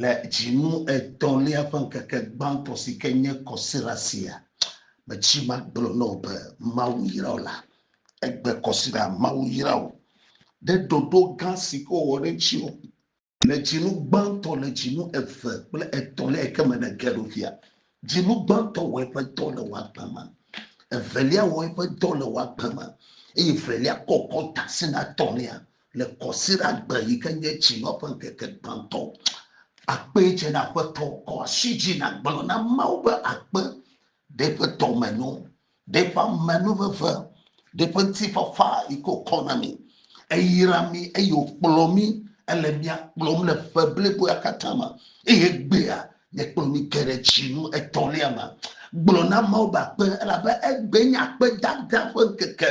Le dzinu etɔ̃lia ƒe ŋkeke gbãtɔ si ke nye kɔsiɖa sia, metsi magblɔ na wò be, Mawu yra wò la, egbe kɔsiɖa, Mawu yra wò ɖe ɖoɖo gã si ke wòwɔ ɖe ŋutiwò le dzinu gbãtɔ, le dzinu eve kple etɔ̃lia yi ke me nège ɖo fia. Dzinu gbãtɔ wɔ eƒe dɔ le wò agbe me, evelia wɔ eƒe dɔ le wò agbe me, eye evelia kɔ kɔ ta si na etɔ̃lia. Le kɔsiɖagbe yi ke nye dzinɔ ƒe ŋkeke gbãtɔ, akpe dze na Aƒetɔ. Kɔ asi dzi nàgblɔ na Mawu be, Akpe, ɖe ƒe dɔmenyo, ɖe ƒe amenuveve, ɖe ƒe ŋutifafa yi ke wòkɔ na mí. Eyra mí eye wòkplɔ mí. Ele mía kplɔm le ƒe bliboa katã me. Eye egbea, nèkplɔ mí ge ɖe dzinu etɔ̃lia me. Gblɔ na Mawu be, Akpe, elabe egbee nye akpedada ƒe ŋkeke.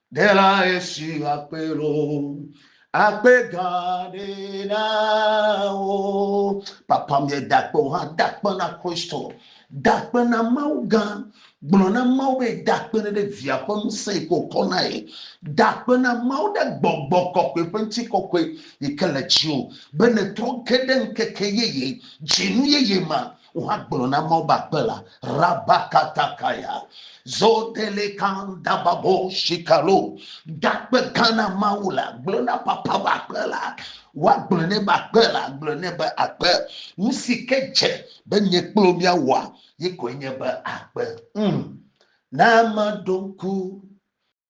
Dela esi akpe lo, akpe gã ɖe na wo. Papa mi dakpe o hã, dakpe na Kristo, dakpe na Mawu gã. Gblɔ na Mawu be dakpe ɖe ɖe via ƒe ŋusẽ yi ko kɔ na ye. Dakpe na Mawu ɖe gbɔgbɔ kɔkɔe ƒe ŋuti kɔkɔe yi ke le dziwò be netrɔ ge ɖe ŋkeke yeye, dzinu yeye ma. Woagblɔ na Mawu be akpe la, rabakatakaya, zodelekan dababo shikalo, dakpe gã na Mawu la, gblɔ na papa be akpe la, woagblɔ ne be akpe la, gblɔ ne be akpe, nu si ke dze be nye kplo miawɔa, ye koe nye be akpe. Mm. Na meɖo ŋku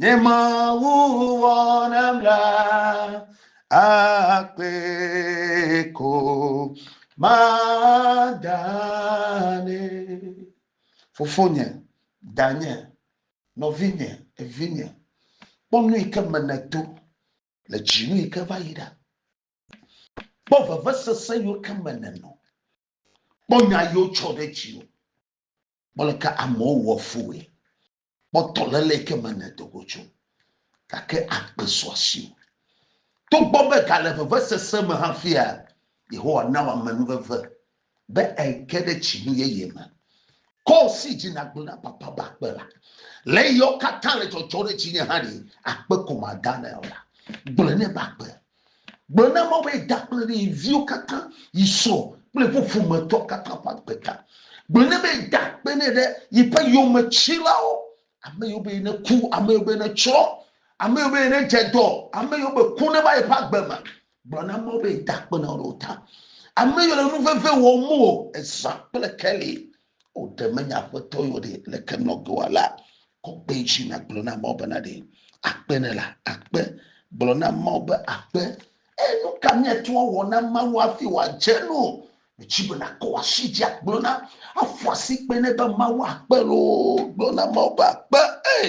Nye Mawu wɔ nam la akpe ko madane. Fofonye, danye, nɔvinye, evinye, kpɔ nu yi ke me nèdo le dzinu yi ke va yi ɖa. Kpɔ vevesese yiwo ke me nènɔ. Kpɔ nya yiwo tsɔ ɖe dziwò. Mele ke amewo wɔ fue. Kpɔtɔ le le ke me ne dogo tso. Gake agbe sɔ asi o. Togbɔ be gale vevesese me hafia, Yehowa na wòame nuveve be eke ɖe tsinu yeye me. Kɔ si dzi nàgblẽ na papa be akpe la. Le eyawo katã le dzɔdzɔ ɖe dzinye hã ɖe, akpe ko madana o la, gblɔe nɛ be akpe. Gblɔ na Mawu be yi da kple yi viwo katã, yi srɔ̃ kple eƒe ƒometɔ katã ƒe agbe ta. Gblɔ nɛ be yi da akpe nɛ ɖe yiƒe yometsilawo, ame yiwo be yi neku, ame yiwo be yi netsrɔ̃, ame yiwo be yi nedze dɔ, ame yiwo be ku neva yiƒe agbe me. Gblɔ na Mawu be yi da akpe na wo ɖe wo ta. Ame yiwo le nu veve wɔm o, ezã kple keli O ɖe menye aƒetɔ yɔ ɖe le ke nɔ ge wa la, kɔkpe dzi na gblɔ na Mawu bena ɖe akpe ne la akpe. Gblɔ na Mawu be akpe. Eye nu ka miate ŋu awɔ na Mawu hafi wòadze nu? Metsi be nakɔ asi dzi agblɔ na, aƒu asi kpe ne be Mawu akpe loo. Gblɔ na Mawu be akpe. Ee,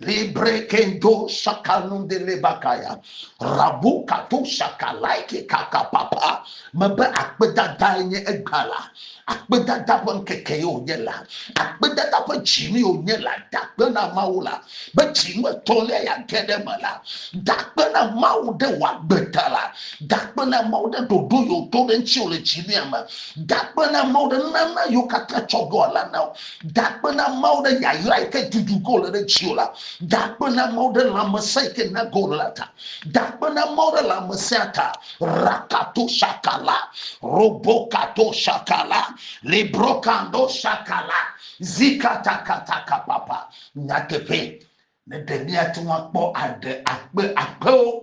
Libre kendo sakanu de lebakaya. Rabu katu sakalaike kaka papa. Mebe akpedada enye egba la. Akpedada ƒe ŋkeke ye wònye la. Akpedada ƒe dzinu ye wònye la. Dakpe na Mawu la. Be dzinu etɔ̃lia yeage ɖe eme la. Dakpe na Mawu ɖe wò agbe ta la. Dakpe na Mawu ɖe ɖoɖo yewo to ɖe ŋuti wò le dzinuya me. Dakpe na Mawu ɖe nunana yewo katã tsɔ ɖo ala na wò. Gakpe na Mawu ɖe yayra yi ke dudu ge wòle ɖe dziwò la. Gakpe na Mawu ɖe lãmesẽ yi ke na ge wòle la ta. Gakpe na Mawu ɖe lãmesẽa ta. Rakato shakala, robokato shakala, librokando shakala, zikatakatakapapa. Nyateƒee, ne ɖe míate ŋu akpɔ aɖe akpe akpewo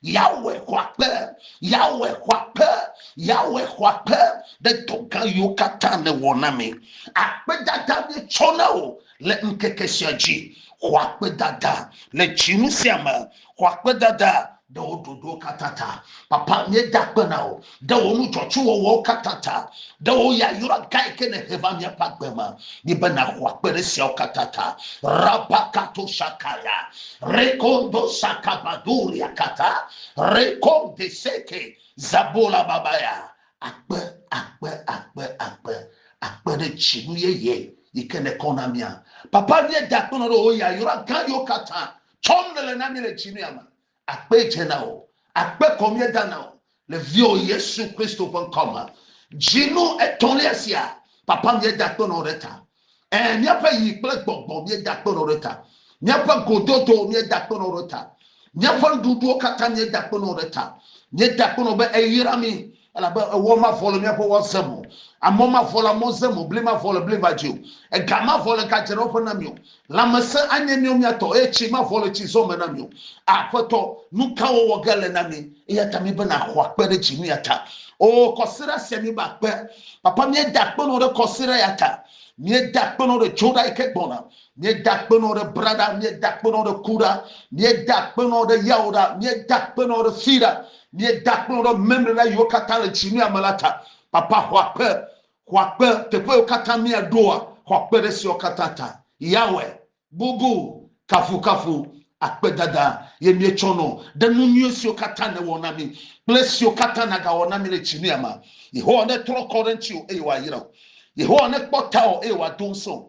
Yahweh xɔ akpe, Yahweh xɔ akpe, Yahweh xɔ akpe ɖe dɔ gã yiwo katã nèwɔ na mi. Akpedada míetsɔ na wò le ŋkeke sia dzi. Xɔ akpedada le dzinu sia me, xɔ akpedada ɖe wò ɖoɖowo katã ta. Papa, míeda akpe na wò ɖe wò nu dzɔtsuwɔwɔwo katã ta, ɖe wò yayra gã yi ke nèhe va míaƒe agbe me ni be nàxɔ akpe ɖe esiawo katã ta. Rabakato sakaya, rekondo sakabaduria kata, rekonde seke, zabola babaya. Akpe, akpe, akpe, akpe, akpe ɖe dzinu yeye yi ke nèkɔ na mía. Papa míeda akpenɔ ɖe wò yayra gã yiwo katã tsɔm nèle na mí le dzinu ya me. Akpe dze na wò. Akpe kɔ míeda na wò le viwò Yesu Kristo ƒe ŋkɔ me. Dzinu etɔ̃lia sia, Papa, míeda akpe nɔ wò ɖe ta. Ẽ, míaƒe yi kple gbɔgbɔ, míeda akpe nɔ wò ɖe ta. Míaƒe gododo, míeda akpe nɔ wò ɖe ta. Míaƒe nuɖuɖuwo katã, míeda akpe nɔ wò ɖe ta. Míeda akpe nɔ wò be èyra mí. Elabe ewɔ mavɔ le míaƒe wɔ zem o, amɔ mavɔ le amɔ zem o, bli mavɔ le bli va dzi o, ega mavɔ le ga dzeɖewoƒe na mí o. Lãmesẽ anye míawo mía tɔ, eye tsi mavɔ le tsi zɔ me na mí o. Aƒetɔ, nu ka wɔwɔ ge le na mí? Eya ta míbena àxɔ akpe ɖe dzi nu ya ta. Oo, kɔsiɖa sia míbe akpe. Papa, míeda akpe na wò ɖe kɔsiɖa ya ta. Míeda akpe na wò ɖe Dzoɖa yi ke gbɔna. Míeda akpenɔ ɖe bra ɖa, míeda akpenɔ ɖe ku ɖa, míeda akpenɔ ɖe yawo ɖa, míeda akpenɔ ɖe fi ɖa, míeda akpenɔ ɖe memlena yiwo katã le tsi nua me la ta. Papa, xɔ akpe, xɔ akpe teƒe yiwo katã míaɖoa, xɔ akpe ɖe esiawo katã ta. Yahweh, bubu, kafukafu, akpedada ye míetsɔ nɔ ɖe nu nyui siwo katã nèwɔ na mí kple esiwo katã nàgawɔ na mí le tsi nua me. Yehowa netrɔ kɔ ɖe ŋutiwò eye wòayra wò. Yehowa nekpɔ tawò eye wòado ŋusẽ wò.